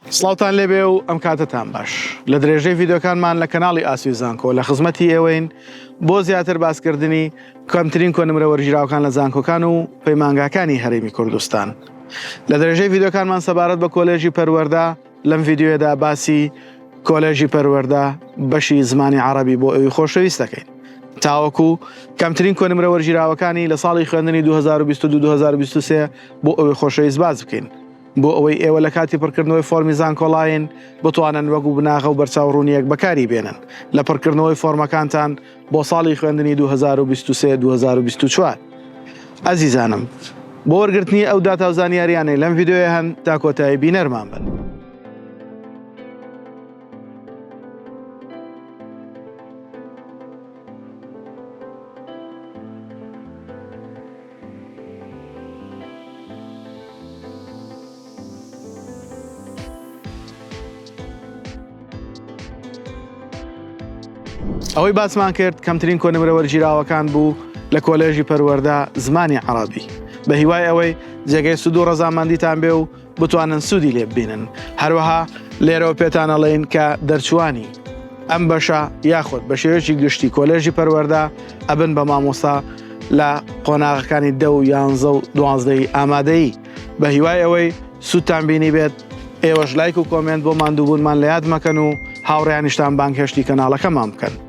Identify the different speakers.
Speaker 1: سڵاوتان لێبێ و ئەم کاتەتان باش لە درێژەی ڤیددیوکانمان لە کەناڵی ئاسوی زانکۆ لە خزمەتی ئێوەین بۆ زیاتر باسکردنی کەمترین کۆنمرە وەرگیراوکان لە زانکۆکان و پەیمانگاکانی هەرێمی کوردستان لە درێژەی ڤیددیوکانمان سەبارەت بە کۆلێژی پەروەەردە لەم ڤیددیوێدا باسی کۆلێژی پەروەەردە بەشی زمانی عربی بۆ ئەوی خۆشەویست دەکەین تاوەکو کەمترین کۆنمرە وەرگیراوەکانی لە ساڵی خوێندنی 2022 2023 بۆ ئەوی خۆشەویست باز بکەین بۆ ئەوەی ئێوە لە کاتی پڕکردنەوەی فۆرمی زانکۆڵاین بتوانن وەک و بناغە و بەرچاو ڕوونیەک بەکاری بێنن لە پڕکردنەوەی فۆرمەکانتان بۆ ساڵی خوێندنی 2023 2024 ئەزیزانم بۆ وەرگرتنی ئەو داتا و زانیاریانەی لەم ڤیددیوێ هەن تا کۆتایی بینەرمان بن. ئەوەی باسمان کرد کەمترین کۆنمرە وەرگیراوەکان بوو لە کۆلێژی پەروەەردە زمانی عربی بە هیوای ئەوەی جێگەی سود و ڕەزامەندیتان بێ و بتوانن سوودی لێ ببینن هەروەها لێرەوە پێتان ئەڵێین کە دەرچووانی ئەم بەشە یاخود بە شێوەیەکی گشتی کۆلێژی پەروەەردە ئەبن بە مامۆستا لە قۆناغەکانی دە و یانزە و دوازدەی ئامادەیی بە هیوای ئەوەی سوودتان بینی بێت ئێوەش لایک و کۆمنت بۆ ماندووبوونمان لە یاد مەکەن و هاوڕیانیشتان بانگهێشتی کەناڵەکەمان بکەن.